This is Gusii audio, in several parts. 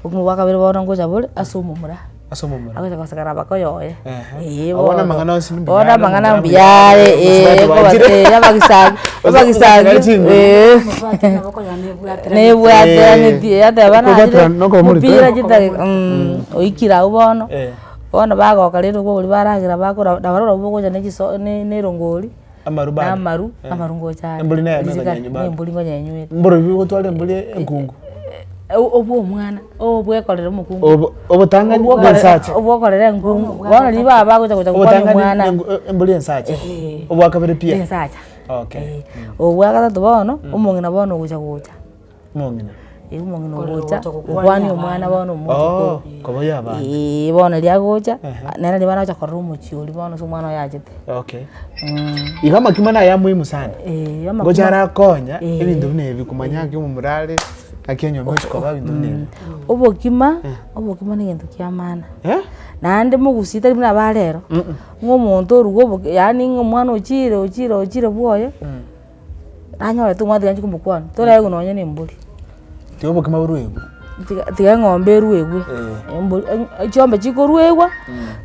Okomo gwa kabere bono ngocha bore ase omomura. Ase omomura. Agocha kosakara abako yoye. Eeh. Bono Abone amang'ana onsi mbuya bono are amang'ana omomura mbuya are eeh kobasi eeh abagisagi abagisagi Osasikera chinguru. eeh. Obwate naboko yane ebwatera. Nebwateraneti Eh. yateba nare Okobwatera na okomori to. mupira chidaki oikire agwo bono, Eh. bono bagoka rende okwo okoria baragera bakora nabo barabwo bogocha ne chiso ne- nerongori. Amaru bande. Namaru, Eh. amaru ngocha ande. Embori neyane Rizika, ekonyenyu bande. Nembori nkonyenywete. Mboro bibi gotwara embori enkungu. Au- obwo omwana, obwekorera omokungu. Obo- obotangani Obwo okore- bw'ensacha. obwo okorera enkungu. Bono riria baba bagocha gocha gokwana Obotangani omwana. nengu- e- embori ensacha. Ehe. Obwakabere pia. Ensacha. Okay. Eh, obwagatato bono, omong'ina bono ogocha gocha. Omong'ina. Ee omong'ina Korende ogocha ogocha gokwania gokwania omwana bono omouche Oo, korwa koboyia abana. Eeh bono erio agocha, Aha. nere naria baragocha korora omochie oria bono ase omwana oye achete. Okay. Mh. Iga amakimo naya amoimu sana. Eeh amakimo. Ngocha arakonya Eeh. ebinto buna ebi komanya ng'aki omomorare, ng'aki enyomba gochia koba ebinto buna ebi. Obokima, obokima negento kia maana. Eh? Naende mogusi tari buna aba arero, ng'a omonto orue oboke yaani ng'a omwana ochire ochire ochire bwoye. nanyore tomanyete ngancha komokwana toraigwe nonye na embori. Tiga obokima boruegwe. Tiga engombe eruegwe. Chiombe chikoruegwa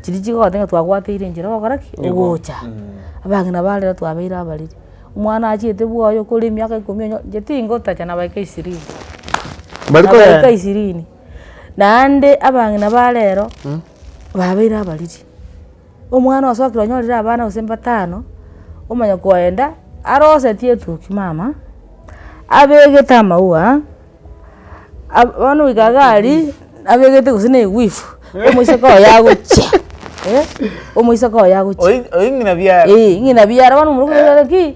chiria chigogotebi ng'a twakwateire enchera ogokora ki? Ogocha. Abang'ina nabo rero twabeire abariri. Omwana achiete bwa oyo okore emiaka ikomi onye inche tingotacha na emiaka ishirini. Na emiaka ishirini. Naende abang'ina ba rero babeire abariri. Omwana osokire onyorire abana gose mbatano, omanya koenda arosetie etoki mama, abegete amaua, ab bono goika iga aria abegete gose na eguifu, omoiseke oye agochia eh, omoiseke oye agochia. Oyi oyi ng'ina biara. Eeh ng'ina biara bono omorokigwa okoira ki.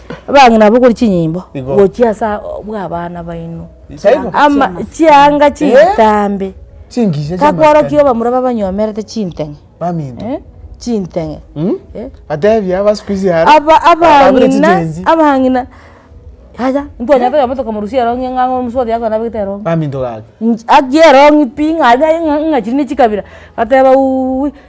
Abang'ina nabokori chinyimbo gochia ase abana baino, chianga chitambe, takworokia abamura babanyomerete chinteng'e, chinteng'e, abang'ina yaya ntitwanyare toyebwa tokamorusia erongi ng'a ang'e omosuo oria akwenabete erongi, haki erongi pi ng'a chiri ne chikabira, bateba uwuwi.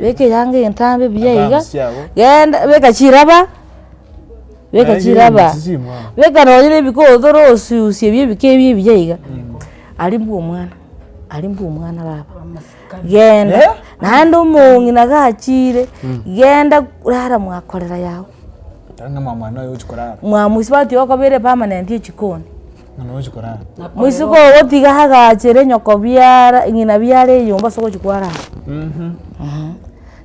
Beka eyanga egetambe buya iga, genda beka chiraba, beka chiraba, beka nonya na ebiko otoro osusie ebio ebiko ebio ebuya iga, aria mbwa omwana, aria mbwa omwana baba, genda naende omong'ina gachire, genda rara mwakorera yago, mwamoisia bati okobere permanent echikoni. Ng'a nogochi korara. Boisiko ogotiga agachere nyoko biara ng'ina biara eyomba ase ogochi kwara aa.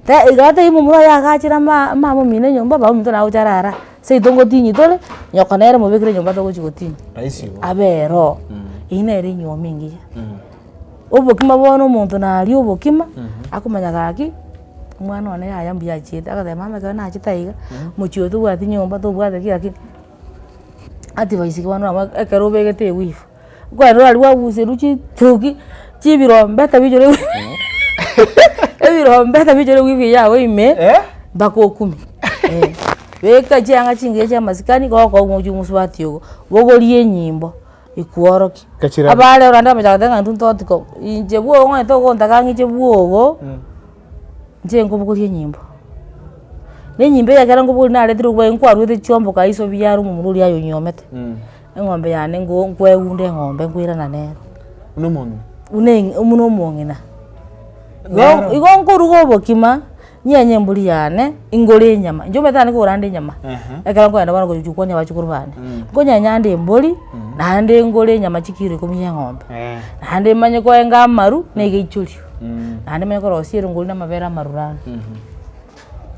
Te iga tari momura oye agachere ama- amama omino enyomba omama ominto naye ogocha arara aa. Seito ngotinyia tore, nyoko nere mobekere enyomba togochi gotinyia. Raisi igo. Aberoo. Eyio nere enyiomi engiya. Obokima bono omonto naria obokima, akomanya gaki, omwana one yaya mbuya achiete, agateba mama ekero nachete aiga, mochie oyo tobwati nyomba, tobwati ki, lakini. advice iga bono nabo ekero obegete ewivu, kwarenta nari kwaguserwa chitugi chibirombe tabichorire ebirombe tabichorire ewivu eye yabo ime mpaka okume eh. Beka chianga chingiya chia masikani goka omochi omosubati ogo, bogoria enyimbo ekworokia. Abare orande amache agoteba ng'a intwe ntotiko, inche bwogo ong'ete ogontaka ng'a inche bwogo. Inche nkobogoria enyimbo, ne enyimbo eye ekero nkobogoria naretire obweng'u kwaruete chiomboka aye iso biaro omomura oria aye onyiomete, eng'ombe yane ngo- nkoeunda eng'ombe nkoirana nere. Buna omong'ina. Buna eng'i buna omong'ina. Igo- igo nkoruga obokima, nyenye embori yane, ingore enyama, inche omanyete naende kogora ande enyama, ekero nkoenda bono gochia konia abachukuru bane, nkonyenya ande embori, naende ngore enyama chikiro ikomi ya eng'ombe, naende manye koenga amaru, na egeichoria. naende manye korosia erongori namabere amarura aa,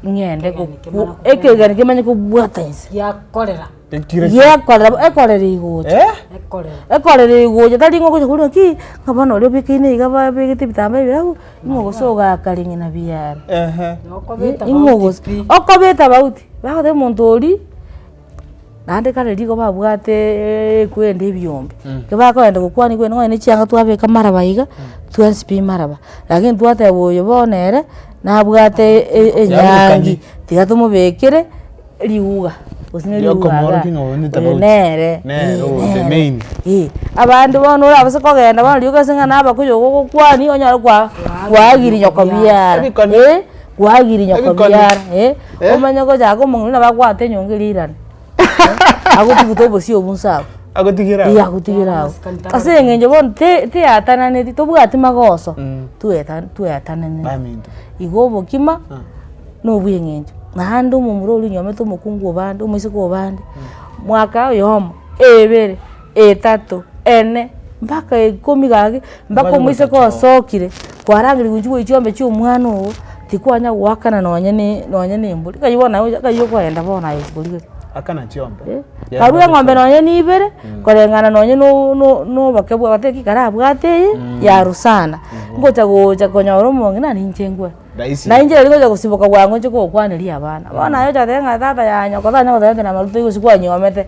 ng'ende gokwa ekegeni kimanye kobwata inse. Giakorera. Ekire ki? Giakorera bo- ekorera egocha. Eh? Ekorera. Ekorera egocha tari ng'a ogocha korwa ki, ng'a bono oria obekeine iga babegete ebitambaa ebira abwo, ing'we gose ogaaka ring'ina biaaro. Ehe. Nokobeta ing'we mauti gose pi. okobeta mauti, bagoteba omonto oria, Naende kare riko babwate ekwende ebiombe, ekero bakoenda gokwania ekwende nonya ne chianga twabeka maraba iga, twensibi maraba, lakini twateba oyo bono ere nabwate e- e- enyangi tiga tomobekere riuga gose ne riuga igaa, oyo nere, Nere oyo the main. eeh. Abande bono orabase kogenda bono riroka ase ng'a nabakuyu iga ogokwania onyare kwa- kwagiria nyoko biara, eeh. Kwagiri nyoko Ebikoni. biara eh, Eh? omanye gocha ake omong'ina nabo akwate enyongo eria eirane eh, agotugute obosie obwo nse abwo. Agotigera Aya aho. agotigera ago ase eng'encho bono te- teatananeti tobwati magoso tweta- tweatananeti Baminto. igo obokima na obweng'encho naende omomura oria onyomete omokungu obande omoiseke obande mwaka oyomo ebere. Etato, ene, mpaka ikomi gaki, mpaka omoiseke osokire, kwarangeria gochia goichia chiombe chia omwana ogo, tikwanya goakana nonye ne nonye ne embori, ekanywa bono naye ekanywa okoenda bono aye chikori gete. Akana chiombe. Eh, karwa eng'ombe nonye na ibere, koreng'ana nonye na o- no- noboke bwa goteba ki kara abwate eye, yarusana, ngocha gocha konyora omonge nare inche ngwe. Rahisi. Nainche riria ngocha gosiboka bwango inche gokwaneria abana, bono naye ocha goteba ng'a tata yanyoko tanyare goteba ng'a tari na amaroba igo gose kwanyomete.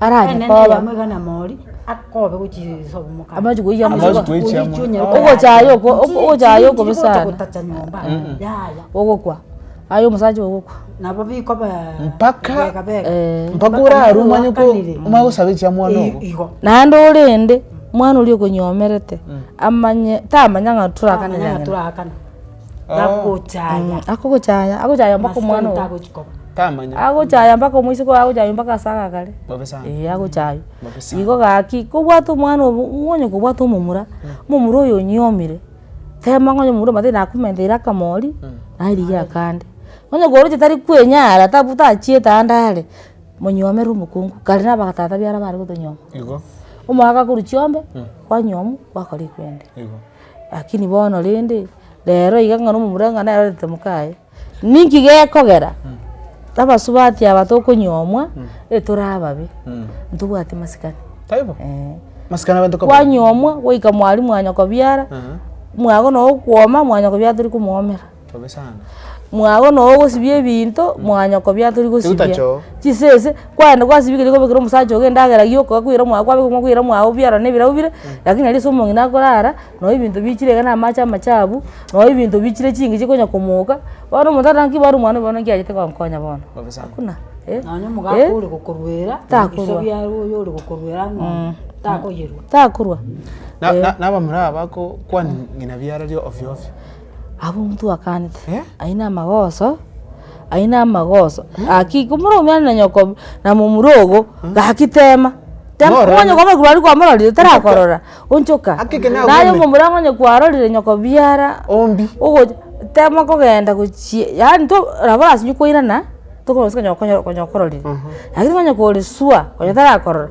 Aranyare koba amachiko oyia Amachiko mosibwa. oyia mosibwa. Ogocha aye oko- oko- ogocha aye okobe sana. Ogokwa, aye omosacha ogokwa. Mpaka Eh. mpaka orare omanye ko omanye gosaba echiamwamu igo. Naende orende, mwana oria okonyomerete, amanye tamanya ng'a torakana na nyina. Akochaya. Akogochaya, agochaya mpaka omwana ogo. Tamanya. Agochaya mpaka omoiseke oye agochaywa mpaka ase agakare. Bobe sana. Ee agochaywa. Bobe sana. Igo gaki, kobwate omwana obo, ng'onya kobwate omomura, omomura oyo onyuomire, tema ng'onya omomura omanyete nakomenteire akamori, naye rigia akande. Onye koroche tari kwenyara, tabu tachiete ande are, monyuomere omokungu, kare na abagatata biara bare gotonyuoma. Igo. Omogaka akorwa chiombe, kwanyuomu, gwakora ekwende. Igo. Lakini bono rende, rero iga ng'a na omomura ng'a nere arorete mokaye, ninki gekogera abasubati aba tokonyuomwa etore ababe, ntobwati masikani. Taibo? Eeh. Masikani abanto kaba. Kwanyuomwa goika mwarimu anyakobiara, mwagana okwoma, mwanyakobiara tori komwomera. Tobe sana. Mwabo noe ogosibia ebinto mwanywa kobia tori gosibia. Eutacho. Chisese kwaenda kwasibia keria kwabekera omosacha ogo endagera yoka kwakwira omwabo kwabeka omwabo kwaira omwabo biaroro na ebirau bire lakini nari ase omong'ina akorara noe ebinto bichire iga na amache amachabu noe ebinto bichire chingicho konya komoka bono omonto atange ki bono omwana oyo bono nki achete gonkonya bono. Bobe sana. Hakuna eh. Nonya omogaka Eh. ore gokoruera Takorwa. ebisabi aria oyo ore gokoruera ang'oonye takoyerwa. Takorwa. Na- na- nabamura aba ko- kwania ng'ina biarari ofio ofio. Abwo omonto oakanete Eh? aye na amagoso aye na amagoso gaki komura omuya na nyoko na momura ogo gaki tema tema Morore. onye nyoko omorekwa aria kwamororire tarakorora onchoka Haki ekero naye nagwene. omomura ang'e onye kwarorire nyoko biara Ombi. ogocha tema kogenda gochia yaani to nabo orasinye kwairana tokorora gose onye okonye okonye okororire lakini onye kore sure onye tarakorora.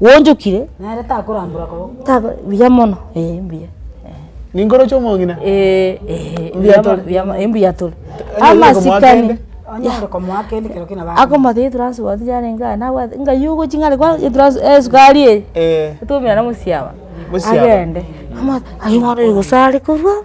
Gwonchokire? Nere takorambora koba. Taba buya mono eh mbuya. Ninkoro chiomong'ina? Eh eh mbuya tore mbuya mono eh mbuya tore. Amasikani. Onyare komoa kende ekero kende nabande. Akomate etransport yarenge aye nabwate ngai ogochi ng'are kwa etranso esukari eye. Eh. Otwomerane mosiaba. Mosiaba. Agende. Amate aye bono oyo gose are korwa.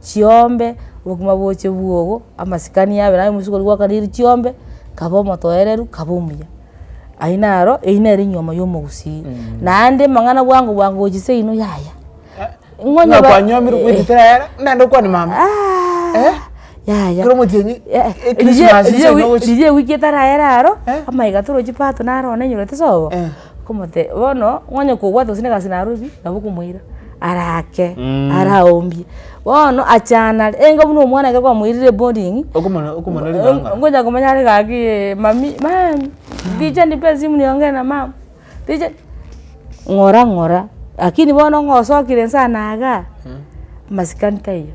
chiombe, obogima boche bwogo, amasikani yabere aye omosibwa oria gwakana eria chiombe, kaba omotoereru, kaba omuya. Aywo naro, eywo nere enyiomo ya omogusii. Naende amang'ana bwango bwango gochia seino yaya. Ng'a kwanyiomire okoetia tera yara, naende okwane mama. Aah! Yaya. Kero omotienyi, ekrismasi seino gochia. Riria ewiki etaraera aro, amaiga torochi pato naro one enyorete sobo, Okomotebia, bono onye kogwata gose negasi narorire, nabo okomoira arake araombie. Bono achande are, enga buna omwana ekero kwamoirire eboding'i, Okomona- okomona ring'anga. ngocha komanya are gaki mami, mami richa ndibe esimu niongee na mama, richa, ng'ora ng'ora, lakini bono ng'a osokire nse anaga, masikani taiyo.